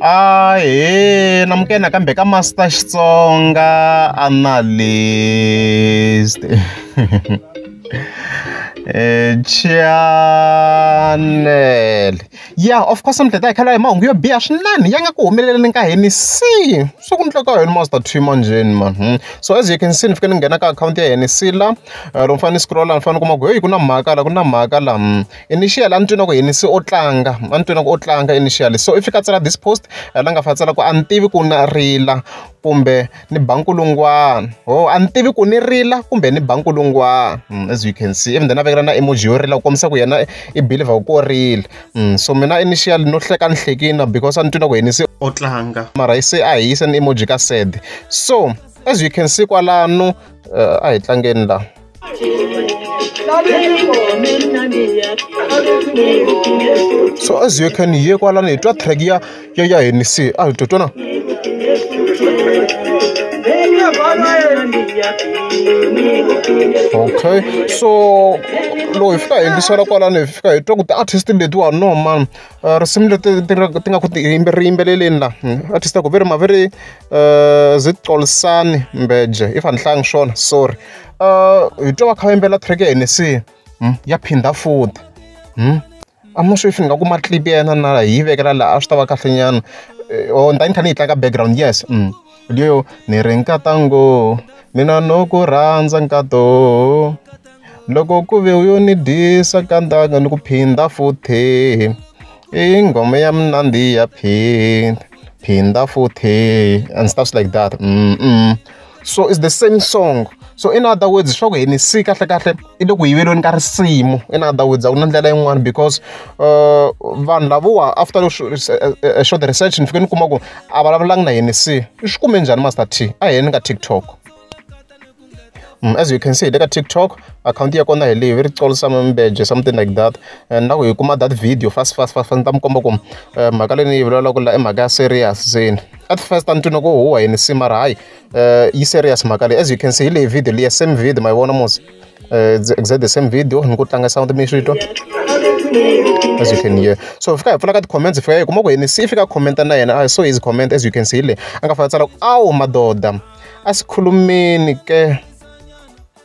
Ahee namukela nakambe ka Master Xitsonga Analyst channel ya of course mdleta hi khala hi mahungu yo biha swinene ya nga ku humeleleni ka hini si swi ku ndleka yini master twi manjheni man hmm. so as you can see ni fike ni nghena ka akhawunti ya hini si la eh, loko ni fanele ni scrolla ni fanele ni kuma ku heyi ku na mhaka la ku na mhaka la hmm. initial a ni twi na ku yini se o tlanga a ni twi na ku o tlanga initial so i fika a tsala this post la nga fa tsala ku a ni tivi ku na rila kumbe ni ba nkulungwana ho a ni tivi ku ni rila kumbe ni ba nkulungwana hmm, as you can see even then a vekela na emoji yo rila ku kombisa ku yena i believer ku o rila hmm, so mina initial no hleka ni hlekina because a ni twi na ku yini se o tlanga mara se a hi yisa ni emoji ka sad so as you can see kwalano uh, a hi tlangeni laha so as you can hear kwala ni twa track ya ya ya ni si a to tona okay so loko hi fika hi yingisela kwalano hi fika hi twa ku ti-artist letiwa no man risimu leri ti nga ti nga ku ti ri yimbeleleni la artist a ku ve ri ma ve ri Zixolisani Mbheje if a ni hlayanga swona sorry hi twa va kha va yimbelela track ya Hennessy se ya phinda futhi I'm not sure if ni nga kuma clip ya yena na hi yi vekela laha a swi ta va kahle nyana or ni ta va ni kha ni yi tlanga background yes. lyo ni ri nkata ngo mina no ku rhandza nkato loko ku ve u yo ni dyisa ka ndanga ni ku phinda futhi i nghoma ya mina ndi ya phinda phinda futhi and stuffs like that mm so it's the same song so in other words swa ku henisika kahle kahle. i le ku yiveleni ka risimu i na ta wudza ku na ndlela yin'wana because uh, vanhu lavowa after a short research ni fike ni kuma ku a vulavulangi na yini se i swi kume njhani master t a hi yeni ka tiktok Mm, as you can see le ka tiktok akhawunti ya kona hi leyi ve ri tsolo samambeje something like that and na ku hi kuma that video fast fast fast ni ta mi komba ku eh, mhaka leyi ni yi vulavulaka la i mhaka ya serious zeni at first a ni twini ku huwa yini si mara hayi uh, yi serious mhaka leyi as you can see hi leyi video leyi same video ma yi vona mos uh, exact the same video ni ku tlanga sound mi swi twa as you can hear so fika hi pfula ka ti-comments fika hi kuma ku yini si fika commenta na yena i saw his comment as you can see le a nga fana tsala ku awu madoda a si khulumeni ke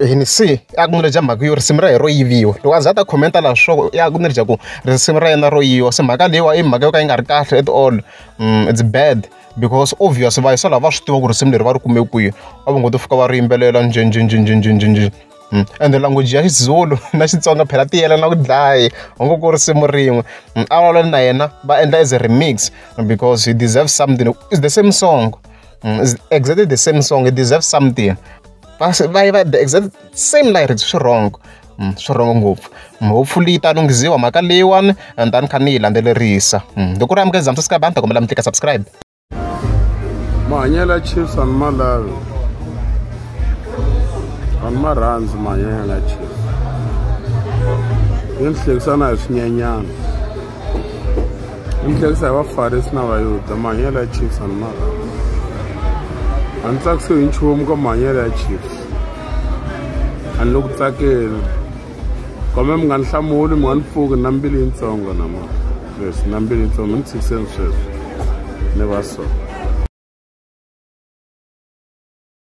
ni se a ku ni ri dya mhaka yo risimu ra hi ro yiviwa loko a za a ta khomenta laha swo ya ku ni ri dya ku risimu ra yena ro yiviwa se mhaka leyiwa i mhaka yo ka yi nga ri kahle at all mm, it's bad because obvious va yisala va swi tiva ku risimu leri va ri kume kwihi a va ngo to fika va ri yimbelela njhenjhenjhenjhenjhenjhenjhen mm. ende language ya xizulu na xitsonga phela ti yelana ku dlaye u ngo ku risimu rin'we mm, a vulavula na yena va endla as a remix because he deserves something it's the same song mm, it's exactly the same song he deserves something va va yi va the exact same lyrics swi wrong mm, swi wrong ngopfu mm, hopefully yi ta lunghiziwa mhaka leyiwani and ta ni kha ni yi landzelerisa mm, loko ri amukela zamsa subscribe a ni ta kombela mi tlika subscribe mahanyela chiefs a ni ma lavi a ni ma rhandzi mahanyela chiefs yi ni hlekisana hi swinyenyana ni tlherisa hi vafarisi na vayuda mahanyelo ya chiefs ani maka a ni tsakisiwe hi nchumu ka mahanyelo ya chiefs a ni le ku tsakeni kambe mi nga ni hlamuli mi nga ni pfuki na mbili yintsongo na ma yes na mbili yintsongo mi ni tshikiseni sweswi ni va so